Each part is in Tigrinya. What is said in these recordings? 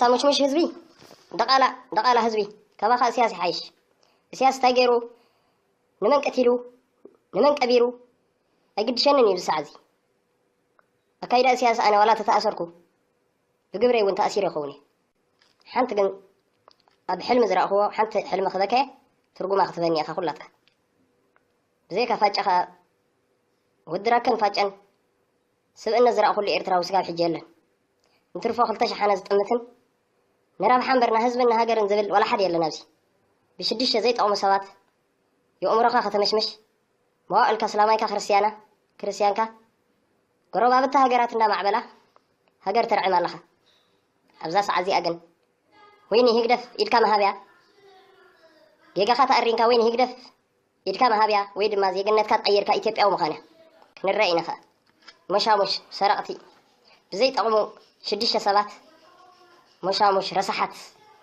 ታሙሽሙሽ ህዝቢ ደቓላ ደቓላ ህዝቢ ካባኻ እስያስ ይሓይሽ እስያስ እንታይ ገይሩ ንመን ቀቲሉ ንመን ቀቢሩ ኣይግድሸንን እዩ ዝሳዕ እዚ ኣካይዳ እስያስ ኣነ ዋላ ተተኣሰርኩ ብግብረይ እውን ተኣሲር ይኸውን እዩ ሓንቲ ግን ኣብ ሕልሚ ዝረእኽዎ ሓንቲ ሕልሚ ክበከ ትርጉማ ክትበኒ ኢኻ ኩላትካ ብዘይካ ፋጨኻ ወድራከን ፋጨን ስብእነት ዝረኣኹሉ ኤርትራዊ ስጋብ ሕጂ የለን። እንትርፎ ክልተ ሸሓነ ዝጥምትን ንረብሓ እምበር ንህዝብን ንሃገርን ዝብል ዋላ ሓደ የለን ኣብዚ። ብሽዱሽተ ዘይጠቕሙ ሰባት የኡምሮኻ ከተመሽምሽ መዋእልካ ስላማይካ ክርስትያና ክርስትያንካ ጎረባብቲ ሃገራት እንዳማዕበላ ሃገር ተርዕም ኣለኻ። ኣብዛ ሰዓት እዚኣ ግን ወይኒ ህግደፍ ኢድካ መሃብያ ጌጋኻ ተኣሪንካ ወይኒ ህግደፍ ኢድካ ምሃብያ ወይ ድማ ዜግነትካ ቀይርካ ኢትዮጵያዊ ምዃንያ ክንረእ ኢና ከኣ ሞሻሙሽ ሰረቕቲ ብዘይ ጠቕሙ ሽዱሽተ ሰባት ሞሻሙሽ ረሳሓት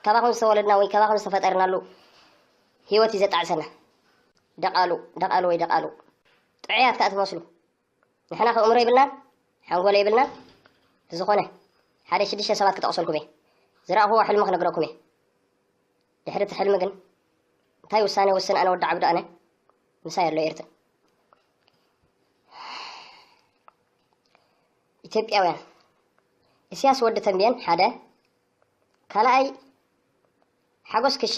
ካባኹም ዝተወለድና ወይ ካባኹም ዝተፈጠርናሉ ህይወት እዩ ዘጣዕሰና ደቓሉ ደቓሉ ወይ ደቓሉ ጥዑያት ከኣ ትመስሉ ንሕና ከ እምሮ የብልናን ሓንጎለ የብልናን ብዝኾነ ሓደ ሽዱሽተ ሰባት ክጠቕሰልኩም እየ ዝረኣኹዎ ሕልሚ ክነግረኩም እየ ድሕሪ እቲ ሕልሚ ግን እንታይ ውሳኔ ወስን ኣነ ወዲ ዓብዱ ኣነ ምሳይ ኣሎ ኤርትር ኢትዮጵያውያን እስያስ ወዲ ተንብየን ሓደ ካልኣይ ሓጎስ ክሻ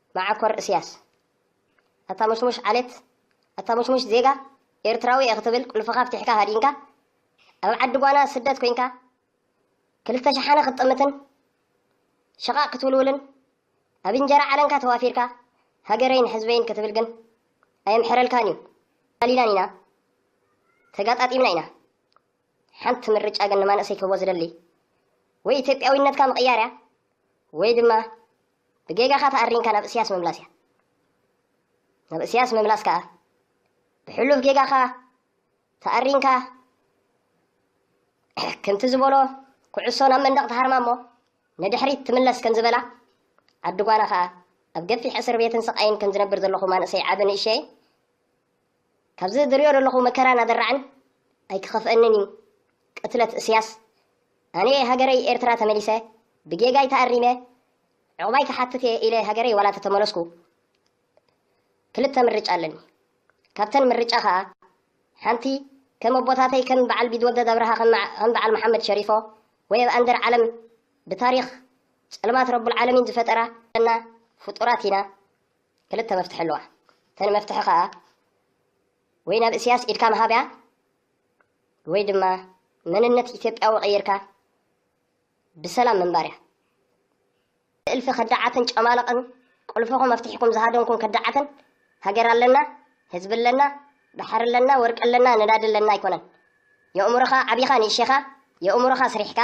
መዓኮር እስያስ ኣታ ሙሽሙሽ ዓሌት ኣታ ሙሽሙሽ ዜጋ ኤርትራዊ እየ ክትብል ቁልፍኻ ፍቲሕካ ሃዲንካ ኣብ ዓዲ ጓና ስደት ኮንካ ክልተ ሸሓነ ክትጥምትን ሸቓቕ ክትውልውልን ኣብ እንጀራ ዓለንካ ተዋፊርካ ሃገረይን ሕዝበይን ክትብል ግን ኣየምሕረልካን እዩ ኣሊናን ኢና ተጋጣጢምና ኢና ሓንቲ ምርጫ ግን ንማንእሰይ ክህቦ ዝደሊ ወይ ኢትዮጵያዊነትካ ምቕያር እያ ወይ ድማ ብጌጋኻ ተኣሪምካ ናብ እስያስ ምምላስ እያ። ናብ እስያስ ምምላስ ከኣ ብሕሉፍ ጌጋኻ ተኣሪምካ ከምቲ ዝበሎ ኩዕሶ ናብ መንደቕ ተሃርማ እሞ ንድሕሪት ትምለስ ከም ዝበላ ዓዲ ጓና ከኣ ኣብ ገፊሕ እስር ቤትን ስቓይን ከም ዝነብር ዘለኹ ማንእሰይ ዓቢ ንእሸይ ካብዚ ዝርእዮ ዘለኹ መከራን ኣደራዕን ኣይክኸፍኣንን እዩ። ቅትለት እስያስ፣ ኣነ'የ ሃገረይ ኤርትራ ተመሊሰ፣ ብጌጋይ ተኣሪመ ዑቕባይ ክሓትት'የ ኢለ ሃገረይ ዋላ ተተመለስኩ፣ ክልተ ምርጫ ኣለኒ። ካብተን ምርጫ ከኣ ሓንቲ ከም ኣቦታተይ ከም በዓል ቢትወደድ ኣብርሃ ከም በዓል መሓመድ ሸሪፎ ወይ ኣብ ኣንደር ዓለም ብታሪኽ ጸልማት ረቡልዓለሚን ዝፈጠራ እና ፍጡራት ኢና። ክልተ መፍትሒ ኣለዋ እተን መፍትሒ ከኣ ወይ ናብ እስያስ ኢድካ ምሃብያ ወይ ድማ መንነት ኢትዮጵያዊ ቀይርካ ብሰላም ምንባርያ እልፊ ከዳዓትን ጨማለቕን ቁልፍኹም ኣፍትሒኩም ዝሃደንኩም ከዳዓትን ሃገር ኣለና ህዝቢ ኣለና ባሕሪ ኣለና ወርቂ ኣለና ነዳዲ ኣለና ኣይኮነን የእምሮኻ ዓቢኻ ንእሸኻ የእምሮኻ ስሪሕካ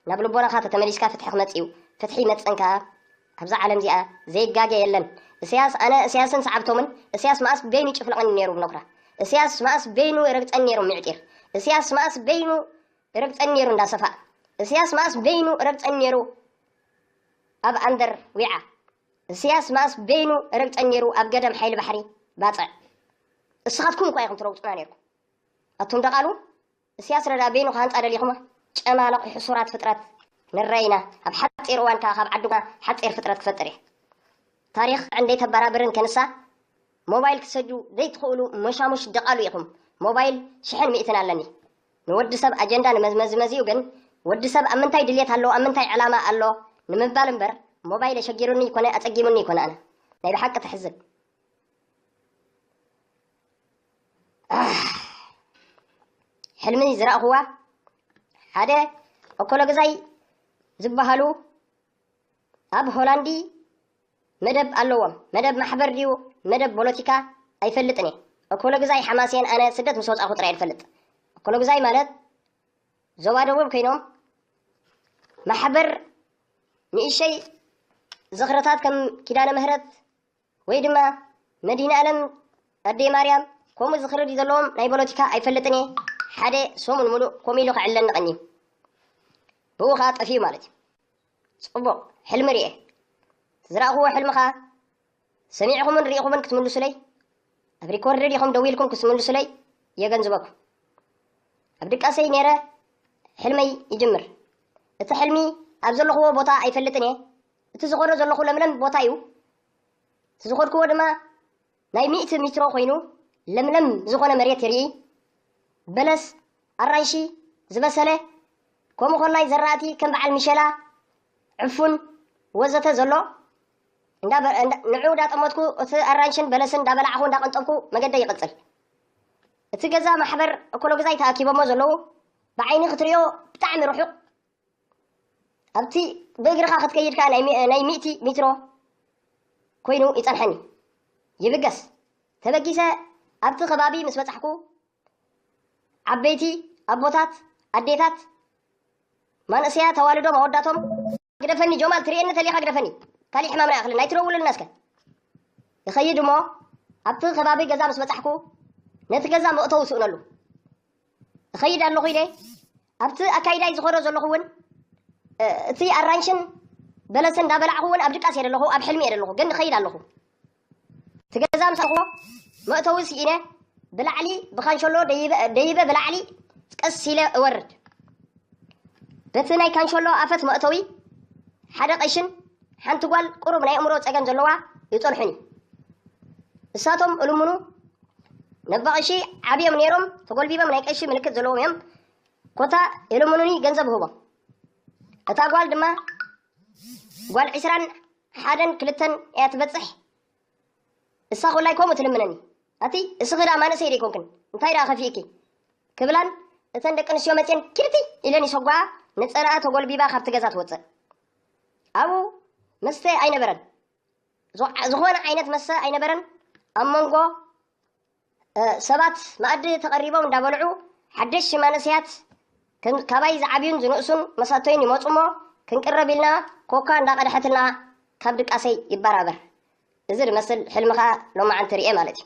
ናብ ልቦናኻ ተተመሊስካ ፍትሒ ክመፅ እዩ ፍትሒ ይመፅን ከዓ ኣብዛ ዓለም እዚኣ ዘይጋገ የለን እስያስ ኣነ እስያስን ሰዓብቶምን እስያስ መኣስ በይኑ ይጭፍልቐኒ ነይሩ ብኖኽራ እስያስ መኣስ በይኑ ይረግፀኒ ነይሩ ምዕጢር እስያስ መኣስ በይኑ ይረግፀኒ ነይሩ እንዳ ሰፋእ እስያስ መኣስ በይኑ ይረግፀኒ ነይሩ ኣብ ኣንደር ዊዓ እስያስ መኣስ በይኑ ይረግፀኒ ነይሩ ኣብ ገደም ሓይሊ ባሕሪ ባፅዕ እስኻትኩም እኳ ኢኹም ትረግፁና ነይርኩም ኣቱም ደቓሉ እስያስ ረዳ በይኑ ክሃንጻ ደሊኹማ ጨማልቕ ሕሱራት ፍጥረት ንረይና ኣብ ሓጺር እዋን ከኣ ካብ ዓዱ ሓጺር ፍጥረት ክፈጥር እየ ታሪኽ ዕንደይ ተባራብርን ከንሳ ሞባይል ክትሰጁ ዘይትኽእሉ መሻሙሽ ደቓሉ ኢኹም ሞባይል ሽሕን ሚእትን ኣለኒ ንወዲ ሰብ ኣጀንዳ ንመዝመዝመዝዩ ግን ወዲ ሰብ ኣብ ምንታይ ድልየት ኣሎ ኣብ ምንታይ ዕላማ ኣሎ ንምባል እምበር ሞባይል ኣሸጊሩኒ ይኮነ ኣጸጊሙኒ ይኮነ ኣነ ናይ ብሓቂ ተሕዝን ሕልሚ ዝረእኹዋ ሓደ ኦኮሎግዛይ ዝበሃሉ ኣብ ሆላንዲ መደብ ኣለዎም መደብ ማሕበር ድዩ መደብ ፖለቲካ ኣይፈልጥን እየ ኦኮሎግዛይ ሓማሴን ኣነ ስደት ምስ ወፃኹ ጥራይ ዝፈልጥ ኦኮሎግዛይ ማለት ዞባ ደቡብ ኮይኖም ማሕበር ንእሸይ ዝኽርታት ከም ኪዳነ ምህረት ወይ ድማ መድሂንኣለም ኣደይ ማርያም ከምኡ ዝኽርድ እዩ ዘለዎም ናይ ፖለቲካ ኣይፈልጥን እየ ሓደ ሰሙን ሙሉእ ከምኡ ኢሉ ክዕለኒ ቀንዩ ብኡ ከዓ ጠፍዩ ማለት እዩ ፅቡቕ ሕልሚ ርኤ ዝረእኹዎ ሕልሚ ከዓ ሰሚዕኹምን ርኢኹምን ክትምልሱለይ ኣብ ሪኮርድ ዲኹም ደዊልኩም ክትምልሱለይ የገንዝበኩም ኣብ ድቃሰይ ነይረ ሕልመይ ይጅምር እቲ ሕልሚ ኣብ ዘለኹዎ ቦታ ኣይፈልጥን እየ እቲ ዝኸዶ ዘለኹ ለምለም ቦታ እዩ። እቲ ዝኸድክዎ ድማ ናይ ሚእቲ ሚትሮ ኮይኑ ለምለም ዝኾነ መሬት ይርኢ። በለስ፣ ኣራንሺ፣ ዝበሰለ ከምኡ ኮላይ ዘራእቲ ከም በዓል ሚሸላ፣ ዕፉን ወዘተ ዘሎ ንዑ እንዳጠመትኩ እቲ ኣራንሽን በለስን እንዳበላዕኹ እንዳቀንጠብኩ መገደይ ይቕጽል። እቲ ገዛ ማሕበር እኮሎግዛይ ተኣኪቦሞ ዘለዉ ብዓይኒ ክትሪኦ ብጣዕሚ ርሑቕ ኣብቲ ብእግርኻ ክትከይድ ከኣ ናይ ሚ- ናይ ሚእቲ ሚትሮ ኮይኑ ይጸንሐኒ ይብገስ ተበጊሰ ኣብቲ ከባቢ ምስ በጻሕኩ ዓበይቲ ኣቦታት ኣዴታት ማንእሰያ ተዋልዶ መወዳቶም ግደፈኒ ጆማል ትርእየኒ ተሊኻ ግደፈኒ ካሊእ ሕማም ርኣ ክልን ኣይትደውለልና እስከ ይኸይድ እሞ ኣብቲ ከባቢ ገዛ ምስ በጻሕኩ ነቲ ገዛ መእተዊ ስእነሉ እኸይድ ኣለኹ ኢለ ኣብቲ ኣካይዳይ ዝኾዶ ዘለኹ እውን እቲ ኣራንሽን በለስን እንዳበላዕኹ እውን ኣብ ድቃስ እየ ዘለኹ ኣብ ሕልሚ እየ ዘለኹ ግን እኸይድ ኣለኹ እቲ ገዛ ምስ ኣለኹዎ መእተዊ ስኢነ ብላዕሊ ብካንሸሎ ደይበ ብላዕሊ ቀስ ኢለ እወርድ በቲ ናይ ካንሸሎ ኣፈት መእተዊ ሓደ ቀሽን ሓንቲ ጓል ቁሩብ ናይ እምሮ ፀገም ዘለዋ ይፀልሑኒ እሳቶም እልምኑ መባቐሺ ዓብዮም ነይሮም ተጎልቢበም ናይ ቀሺ ምልክት ዘለዎም እዮም ኮታ የለምኑኒ ገንዘብ ህቦ እታ ጓል ድማ ጓል ዕስራን ሓደን ክልተን እያ ትበፅሕ እሳ ኮላይ ከምኡ ትልምነኒ ኣቲ እስኺ ዳ ማንእሰይ ደይኮንክን እንታይ ዳ ከፊእኪ ክብላን እተን ደቂ ኣንስትዮ መፅን ኪርቲ ኢለን ይሰጓ ንፀላኣ ተጎልቢባ ካብቲ ገዛ ትወፅእ ኣብኡ መስተ ኣይነበረን ዝኾነ ዓይነት መሰ ኣይነበረን። ኣብ መንጎ ሰባት መኣዲ ተቐሪቦም እንዳበልዑ ሓደሽቲ መንእሰያት ካባይ ዝዓብዩን ዝንእሱን መሳቶይን ይመጹ እሞ ክንቅረብ ኢልና ኮካ እንዳቐድሐትልና ካብ ድቃሰይ ይበራበር። እዚ ዝመስል ሕልሚ ከኣ ሎማዓንቲ ርእየ ማለት እዩ።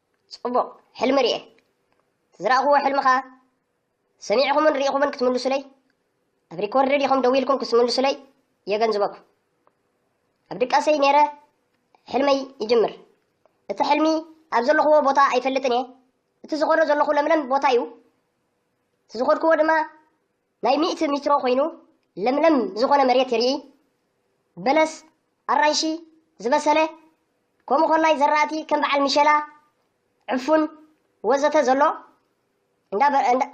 ጽቡቕ ሕልሚ ርኤ። እቲ ዝረኣኹዎ ሕልሚ ከኣ ሰሚዕኹምን ርኢኹምን ክትምልሱለይ፣ ኣብ ሪኮርድ ዲኹም ደው ኢልኩም ክትምልሱለይ የገንዝበኩም። ኣብ ድቃሰይ ነይረ ሕልመይ ይጅምር። እቲ ሕልሚ ኣብ ዘለኹዎ ቦታ ኣይፈልጥን እየ። እቲ ዝኾዶ ዘለኹ ለምለም ቦታ እዩ። እቲ ዝኾድኩዎ ድማ ናይ ሚእቲ ሚትሮ ኮይኑ ለምለም ዝኾነ መሬት ይርኢ፣ በለስ፣ ኣራንሺ፣ ዝበሰለ፣ ከምኡ ኮላይ ዘራእቲ ከም በዓል ምሸላ፣ ዕፉን፣ ወዘተ ዘሎ፣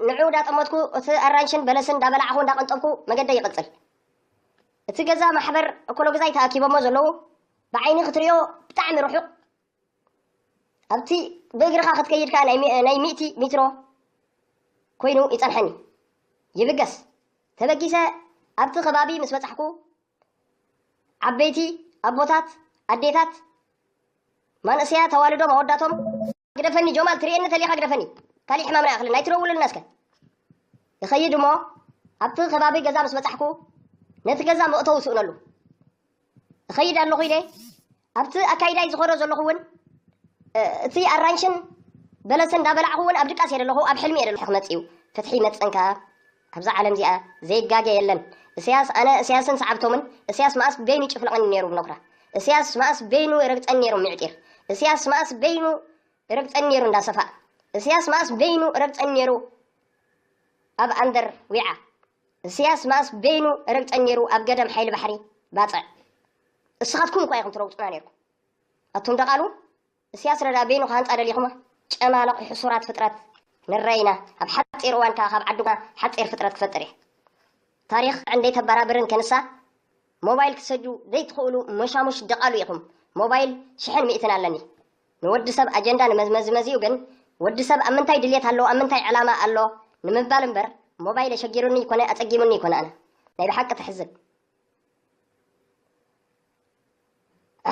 ንዑ ዳጠመትኩ እቲ ኣራንሽን በለስን ዳበላዕኹ እንዳቐንጠብኩ መገደይ ይቕጽል። እቲ ገዛ ማሕበር እኮሎግዛይ ተኣኪቦሞ ዘለዉ ብዓይኒ ክትሪኦ ብጣዕሚ ርሑቕ፣ ኣብቲ ብእግርኻ ክትከይድ ከኣ ናይ ሚእቲ ሚትሮ ኮይኑ ይጸንሐኒ። ይብገስ ተበጊሰ ኣብቲ ከባቢ ምስ በጻሕኩ ዓበይቲ ኣቦታት ኣዴታት ማንእሰያ ተዋልዶም ኣወዳቶም ግደፈኒ ጆማል ትርእየኒ ተሊኻ ግደፈኒ ካልእ ሕማም ናይ ኣኽልን ኣይትረውሉልና እስከ ይኸይድ እሞ ኣብቲ ከባቢ ገዛ ምስ በፃሕኩ ነቲ ገዛ መእተው ስእነሉ እኸይድ ኣለኹ ኢለ ኣብቲ ኣካይዳይ ዝኾዶ ዘለኹ እውን እቲ ኣራንሽን በለስን እንዳበላዕኹ እውን ኣብ ድቃስ እየ ዘለኹ ኣብ ሕልሚ እየ ዘለኹ ክመፅ እዩ ፍትሒ ይመፅን ከዓ ኣብዛ ዓለም እዚኣ ዘይጋገ የለን እሰያስ ኣነ እሰያስን ሰዓብቶምን እሰያስ መኣስ በይኑ ይጭፍልቐኒ ነይሩ ብኖክራ እሰያስ መኣስ በይኑ ይረግፀኒ ነይሩ ምዕጢር እሰያስ መኣስ በይኑ ይረግፀኒ ነይሩ እንዳሰፋእ እሰያስ መኣስ በይኑ ይረግፀኒ ነይሩ ኣብ ኣንደር ዊዓ እስያስ መኣስ በይኑ ረግጸ ኔሩ ኣብ ገደም ሓይሊ ባሕሪ ባጽዕ እስኻትኩም እኳ ኢኹም ትረግጹና ኔርኩም ኣቱም ደቓሉ እስያስ ረዳ በይኑ ክሃንጻ ደሊኹማ ጨማለቕ ሕሱራት ፍጥረት ንረይ ኢና ኣብ ሓጺር እዋን ከኣ ካብ ዓድና ሓጺር ፍጥረት ክፈጥር እየ ታሪኽ ዕንደይ ተበራብርን ከንሳ ሞባይል ክትሰዱ ዘይትኽእሉ መሻሙሽ ደቓሉ ኢኹም ሞባይል ሽሕን ሚእትን ኣለኒ ንወዲ ሰብ ኣጀንዳ ንመዝመዚ መዚኡ ግን ወዲ ሰብ ኣብ ምንታይ ድልየት ኣሎ ኣብ ምንታይ ዕላማ ኣሎ ንምባል እምበር ሞባይል ኣሸጊሩኒ ይኮነ ኣጸጊሙኒ ይኮነ ኣነ ናይ ብሓቂ ተሕዝን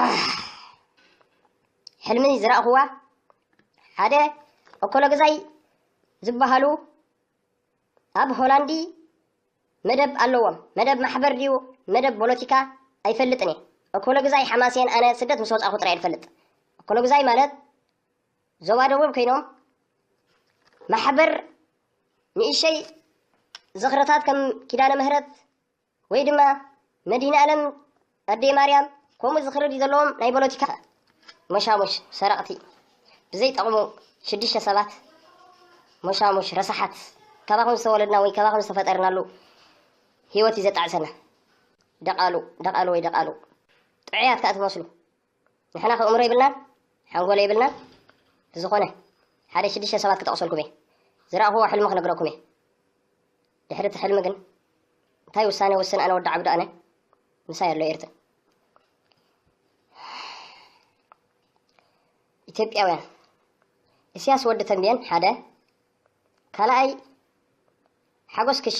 ኣሕ ሕልሚ ዝራእኹዋ ሓደ ኦኮሎግዛይ ዝበሃሉ ኣብ ሆላንዲ መደብ ኣለዎም መደብ ማሕበር ድዩ መደብ ቦሎቲካ ኣይፈልጥን እየ እኮሎግዛይ ሓማሴን ኣነ ስደት ምስ ወጻኹ ጥራይ ድፈልጥ እኮሎግዛይ ማለት ዞባ ደቡብ ኮይኖም ማሕበር ንእሸይ ዝኽርታት ከም ኪዳነ ምህረት ወይ ድማ መድሂንኣለም ኣደይ ማርያም ከምኡ ዝኽሪ ድዩ ዘለዎም ናይ ፖለቲካ ሞሻሙሽ ሰረቕቲ ብዘይ ጠቕሙ ሽዱሽተ ሰባት ሞሻሙሽ ረሳሓት ካባኹም ዝተወለድና ወይ ካባኹም ዝተፈጠርናሉ ህይወት እዩ ዘጣዕሰና ደቓሉ ደቓሉ ወይ ደቓሉ ጥዑያት ከዓ ትመስሉ ንሕናኸ ኣእምሮ የብልናን ሓንጎለ የብልናን ብዝኾነ ሓደ ሽዱሽተ ሰባት ክጠቕሰልኩም እየ ዝረኣኹዎ ሕልሚ ክነግረኩም እየ ድሕሪ እቲ ሕልሚ ግን እንታይ ውሳኔ ውስን ኣነ ወዲ ዓብዱ ኣነ ምሳይ ኣሎ ኤርትር ኢትዮጵያውያን እስያስ ወዲ ተንብየን ሓደ ካልኣይ ሓጎስ ክሻ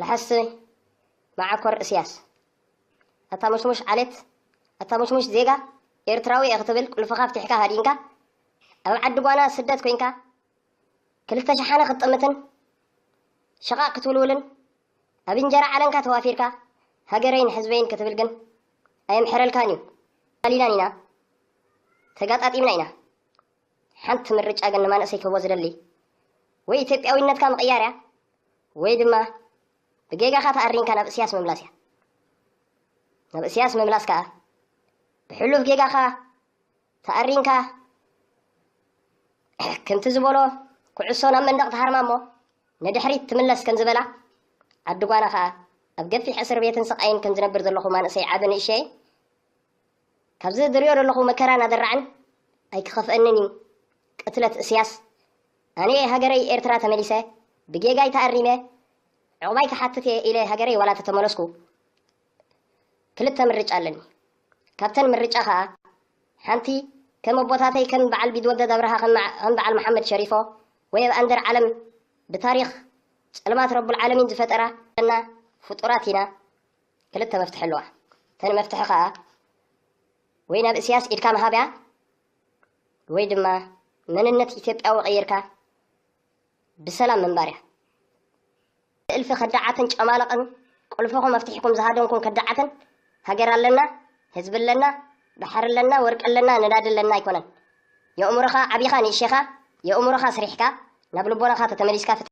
ለሐሲ መዓኮር እስያስ ኣታ ሙሽሙሽ ዓሌት ኣታ ሙሽሙሽ ዜጋ ኤርትራዊ እየ ክትብል ቁልፍኻ ፍቲሕካ ሃዲንካ ኣብ ዓዲ ጓና ስደት ኮይንካ ክልተ ሸሓነ ክትጥምትን ሸቓቕ ክትውልውልን ኣብ እንጀራ ዓለንካ ተዋፊርካ ሃገረይን ሕዝበይን ክትብል ግን ኣየምሕረልካን እዩ ኣሊናን ኢና ተጋጣጢምና ኢና ሓንቲ ምርጫ ግን ንማንእሰይ ክህቦ ዝደሊ ወይ ኢትዮጵያዊነትካ ምቕያር እያ ወይ ድማ ብጌጋኻ ተኣሪንካ ናብ እስያስ ምምላስ እያ። ናብ እስያስ ምምላስ ከዓ ብሕሉፍ ጌጋኻ ተኣሪንካ ከምቲ ዝበሎ ኩዕሶ ናብ መንደቕ ተሃርማ እሞ ንድሕሪት ትምለስ ከም ዝበላ ዓዲ ጓና ከዓ ኣብ ገፊሕ እስር ቤትን ስቃይን ከም ዝነብር ዘለኹ ማንእሰይ ዓቢ ንእሸይ ካብዚ ዝሪኦ ዘለኹ መከራን ኣደራዕን ኣይክኸፍኣንን እዩ። ቅትለት እስያስ ኣነየ ሃገረይ ኤርትራ ተመሊሰ ብጌጋይ ተኣሪመ ዑቕባይ ክሓትት እየ ኢለ ሃገረይ ዋላ ተተመለስኩ ክልተ ምርጫ ኣለኒ። ካብተን ምርጫ ከኣ ሓንቲ ከም ኣቦታተይ ከም በዓል ቢትወደድ ኣብርሃ ከም በዓል መሓመድ ሸሪፎ ወይ ኣብ ኣንደር ዓለም ብታሪኽ ጸልማት ረቡል ዓለሚን ዝፈጠራ እና ፍጡራት ኢና ክልተ መፍትሒ ኣለዋ እተን መፍትሒ ከኣ ወይ ናብ እስያስ ኢድካ ምሃብያ ወይ ድማ መንነት ኢትዮጵያዊ ቀይርካ ብሰላም ምንባር እያ እልፊ ከዳዓትን ጨማለቕን ቁልፍኹም መፍትሒኩም ዝሃደንኩም ከዳዓትን ሃገር ኣለና ህዝቢ ኣለና ባሕሪ ኣለና ወርቂ ኣለና ነዳዲ ኣለና ኣይኮነን የእምሮኻ ዓቢኻ ንእሸኻ የእምሮኻ ስሪሕካ ናብ ልቦናኻ ተተመሊስካ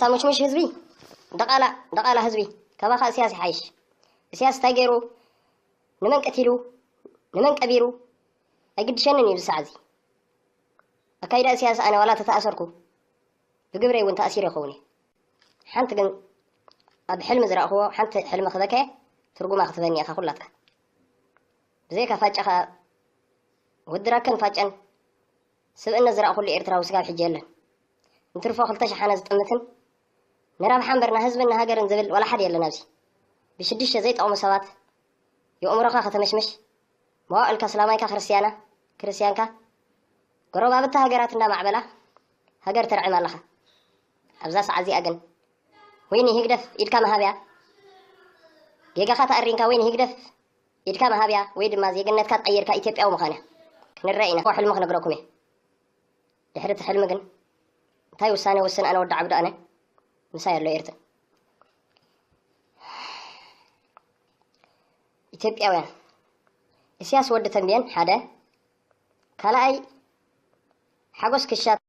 ታሙሽሙሽ ህዝቢ ደቓላ ደቓላ ህዝቢ ካባኻ እስያስ ይሓይሽ እስያስ እንታይ ገይሩ ንመን ቀቲሉ ንመን ቀቢሩ ኣይግድሸንን እዩ ዝሳዕ እዚ ኣካይዳ እስያስ ኣነ ዋላ ተተኣሰርኩ ብግብረይ እውን ተኣሲረ ይኸውን እዩ ሓንቲ ግን ኣብ ሕልሚ ዝረእኽዎ ሓንቲ ሕልሚ ክበከ ትርጉማ ክትበኒ ኢኻ ኩላትካ ብዘይካ ፋጫኻ ወድራከን ፋጨን ስብእነት ዝረኣኹሉ ኤርትራዊ ስጋብ ሕጂ የለን። እንትርፎ ክልተ ሸሓነ ዝጥምትን ንረብሓ እምበር ንህዝብን ንሃገርን ዝብል ዋላ ሓደ የለን ኣብዚ። ብሽዱሽተ ዘይጠቕሙ ሰባት የኡምሮኻ ከተመሽምሽ መዋእልካ ስላማይካ ክርስትያና ክርስትያንካ ጎረባብቲ ሃገራት እንዳማዕበላ ሃገር ተርዕም ኣለኻ። ኣብዛ ሰዓት እዚኣ ግን ወይ ንሂግደፍ ኢድካ ምሃብያ ጌጋኻ ተኣሪንካ ወይ ንሂግደፍ ኢድካ ምሃብያ ወይ ድማ ዜግነትካ ቀይርካ ኢትዮጵያዊ ምዃንያ ክንረእ ኢና እኮ ሕልሚ ክነግረኩም እየ ድሕሪ እቲ ሕልሚ ግን እንታይ ውሳነ ውስን ኣነ ወዲ ዓብዱ ኣነ ምሳይ ኣሎ ኤርትር ኢትዮጵያውያን እስያስ ወዲ ተንብየን ሓደ ካልኣይ ሓጎስ ክሻ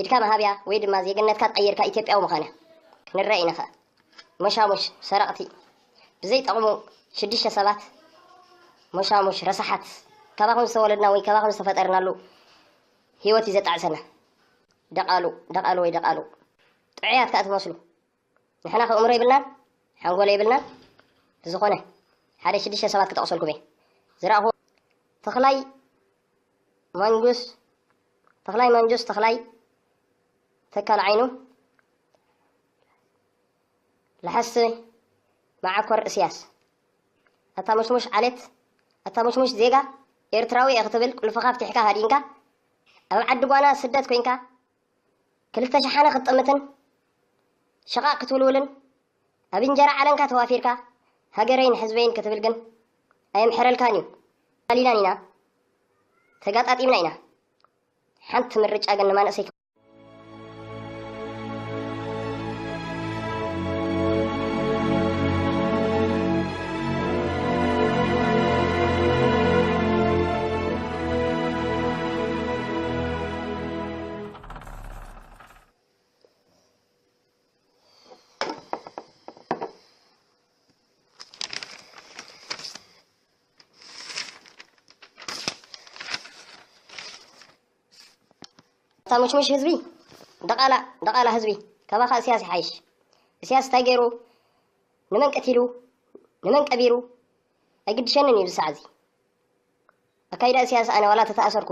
ኢድካ ምሃብያ ወይ ድማ ዜግነትካ ቀይርካ ኢትዮጵያዊ ምኻንያ ክንረእ ኢና ከኣ ሞሻሙሽ ሰረቅቲ ብዘይ ጠቅሙ ሽዱሽተ ሰባት ሞሻሙሽ ረሳሓት ካባኹም ዝተወለድና ወይ ካባኹም ዝተፈጠርናሉ ሂወት እዩ ዘጣዕሰና ደቃሉ ደቃሉ ወይ ደቃሉ ጥዑያት ከኣ ትመስሉ ንሕና ከእምሮ ይብልናን ሓንጎሎ ይብልናን ዝኾነ ሓደ ሽዱሽተ ሰባት ክጠቅሰልኩም እየ ዝረኣኹ ተኽላይ ማንጁስ ተኽላይ ማንጁስ ተኽላይ ተካል ዓይኑ ለሐስ መዓኮር እስያስ ኣታ ሙሽሙሽ ዓሌት ኣታ ሙሽሙሽ ዜጋ ኤርትራዊ ክትብል ቁልፍኻ ፍቲሕካ ሃዲንካ ኣብ ዓዲ ጓና ስደት ኮንካ ክልተ ሸሓነ ክትጥምትን ሽቓቕ ክትውልውልን ኣብ እንጀራ ዓለንካ ተዋፊርካ ሃገረይን ሕዝበይን ክትብል ግን ኣየምሕረልካን እዩ። ኣሊላን ኢና፣ ተጋጣጢምና ኢና። ሓንቲ ምርጫ ግን ንማንእሰይ ታመችመች ህዝቢ ደቓላ ደቓላ ህዝቢ ካባኻ እስያስ ይሓይሽ እስያስ እንታይ ገይሩ ንመን ቀቲሉ ንመን ቀቢሩ ኣይግድሸንን እዩ ዝሳዕ እዚ ኣካይዳ እስያስ ኣነ ዋላ ተተኣሰርኩ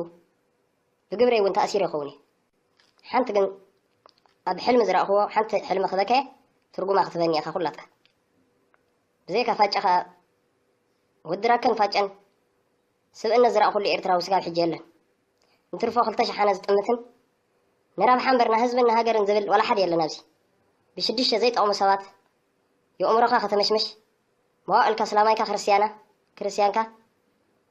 ብግብረይ ውን ተኣሲረ ይኸውን እየ ሓንቲ ግን ኣብ ሕልሚ ዝረእኽዎ ሓንቲ ሕልሚ ክበከ ትርጉማ ክትበኒ ኢኻ ኩላትካ ብዘይካ ፋጨ ከኣ ወድራከን ፋጨን ስብእነት ዝረእኹሉ ኤርትራዊ ስጋብ ሕጂ የለን እንትርፎ ክልተ ሸሓነ ዝጥምትን ንረብሓ እምበር ንህዝብን ንሃገርን ዝብል ዋላ ሓደ የለን ኣብዚ ብሽዱሽተ ዘይጠቕሙ ሰባት የእምሮኻ ከተመሽመሽ መዋእልካ ስላማይካ ክርስትያና ክርስትያንካ